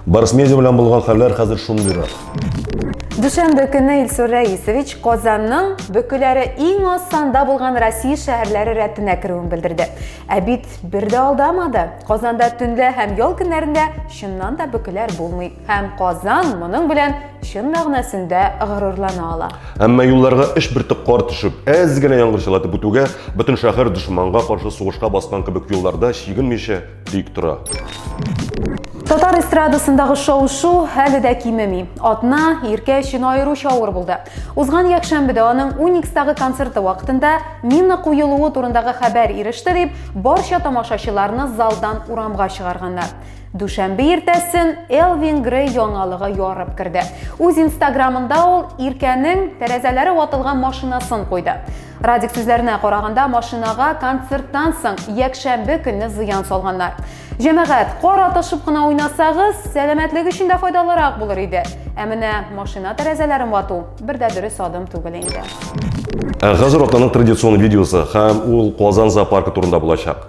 Барыс медиа белән булган хәлләр хәзер шундыйрак. Дүшәмбе көне Илсур Рәисович Казанның бөкеләре иң аз санда булган Россия шәһәрләре рәтенә керүен белдерде. Ә бит бер дә алдамады. Казанда төнлә һәм ял көннәрендә чыннан да бөкеләр булмый. Һәм Казан моның белән чын мәгънәсендә горурлана ала. Әмма юлларга эш бөртек кар төшеп, әз генә яңгыр чылатып үтүгә, бөтен шәһәр дошманга каршы сугышка баскан кебек юлларда чигенмичә тик тора. Татар эстрадасындагы шау-шу әле дә кимеми. Атна Иркә өчен аеруча авыр булды. Узган якшәмбедә аның Уникстагы концерты вакытында мина куелуы турындагы хәбәр иреште дип, барча тамашачыларны залдан урамга чыгарганнар. Дүшәмбе иртәсен Элвин Грей яңалыгы ярып керде. Үз инстаграмында ул Иркәнең тәрәзәләре ватылган машинасын куйды. Радик сүзләренә караганда, машинага концерттан соң якшәмбе көнне зыян салганнар. Җәмәгать, кар атышып кына уйнасагыз, сәламәтлек өчен дә файдалырак булыр иде. Ә менә машина тәрәзәләрен вату бер дә дөрес адым түгел инде. Ә хәзер атнаның традицион видеосы һәм ул Казан зоопаркы турында булачак.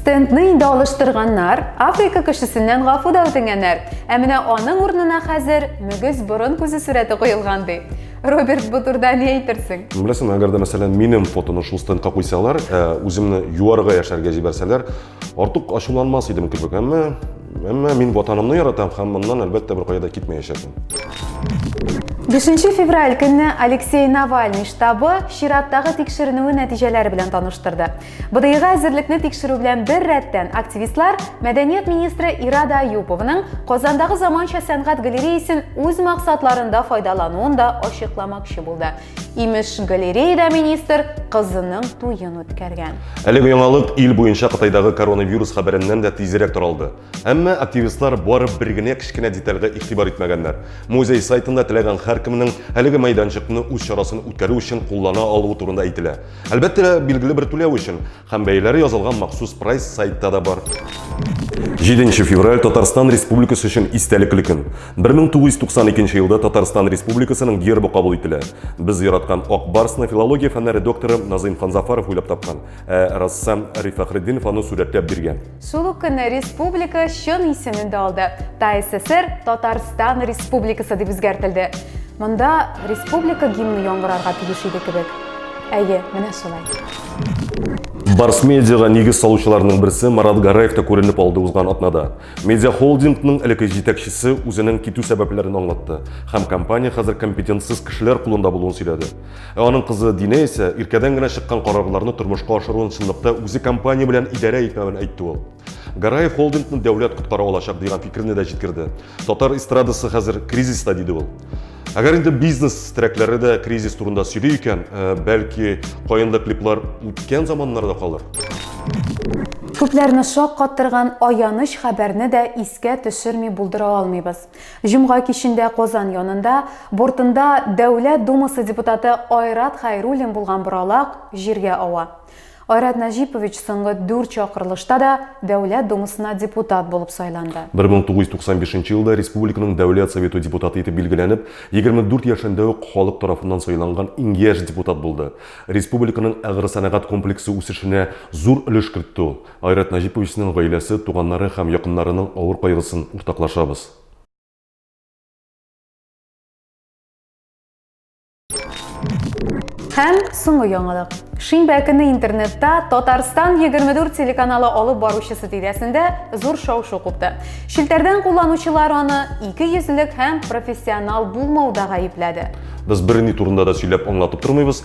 Стендны инде алыштырганнар, Африка кешесеннән гафу да үтенгәннәр. Ә менә аның урынына хәзер мөгез борын күзе сурәте куелган ди. Роберт бу турда ни әйтерсең? Беләсең, әгәр дә мәсәлән минем фотоны шул стендка куйсалар, ә, үземне юарга яшәргә җибәрсәләр, артык ачуланмас идем кебек, әмма Әмма мин ватанымны яратам һәм моннан әлбәттә беркая да китмәячәкмен. 5 февраль көнне Алексей Навальный штабы чираттагы тикшеренүе нәтиҗәләре белән таныштырды. БДИга әзерлекне тикшерү белән бер рәттән активистлар мәдәният министры Ирада Аюповның Казандагы заманча сәнгать галереясен үз максатларында файдалануын да ачыкламакчы булды. Имеш, галереяда министр кызының туен үткәргән. Әлеге яңалык ил буенча Кытайдагы коронавирус хәбәреннән дә тизрәк таралды. Әмма активистлар барып бер генә кечкенә детальгә игътибар итмәгәннәр. Музей сайтында теләгән һәркемнең әлеге мәйданчыкны үз чарасын үткәрү өчен куллана алуы турында әйтелә. Әлбәттә, билгеле бер түләү өчен. Һәм бәяләре язылган махсус прайс сайтта да бар. 7 февраль Татарстан Республикасы өчен истәлекле көн. 1992 елда Татарстан Республикасының гербы кабул ителә. Без яраткан Ак барсны филология фәннәре докторы Назыйм Ханзафаров уйлап тапкан, ә рәссам Риф Фәхретдинов аны сүрәтләп биргән. Шул ук көнне республика чын исемен дә алды. ТАССР Татарстан Республикасы дип үзгәртелде. Монда республика гимны яңгырарга тиеш иде кебек. Әйе, менә шулай. Барс медиага нигез салучыларның берсе Марат Гараев та күренеп алды узган атнада. Медиа холдингның элекке җитәкчесе үзенең китү сәбәпләрен аңлатты һәм компания хәзер компетентсыз кешеләр кулында булуын сөйләде. Ә аның кызы Динә исә иркәдән генә чыккан карарларны тормышка ашыруын чынлыкта үзе компания белән идарә итмәвен әйтте ул. Гараев холдингны дәүләт коткара алачак дигән фикерне дә җиткерде. Татар эстрадасы хәзер кризиста, диде ул. Әгәр инде бизнес терәкләре дә кризис турында сөйли икән, э, бәлки, каенлы клиплар үткән заманнарда калыр? Күпләрне шаккаттырган аяныч хәбәрне дә искә төшерми булдыра алмыйбыз. Җомга кичендә Казан янында, бортында Дәүләт Думасы депутаты Айрат Хәйруллин булган боралак җиргә ава. Айрат Нәҗипович соңгы дүрт чакырылышта да Дәүләт Думасына депутат булып сайланды. 1995 елда республиканың Дәүләт Советы депутаты итеп билгеләнеп, 24 яшендә үк халык тарафыннан сайланган иң яшь депутат булды. Республиканың агросәнәгать комплексы үсешенә зур өлеш кертте ул. Айрат Нәҗиповичның гаиләсе, туганнары һәм якыннарының авыр кайгысын уртаклашабыз. Һәм соңгы яңалык. Шимбә көне интернетта Татарстан 24 телеканалы алып баручысы тирәсендә зур шау-шу купты. Челтәрдән кулланучылар аны ике йөзлек һәм профессионал булмауда гаепләде. Без берни турында да сөйләп аңлатып тормыйбыз,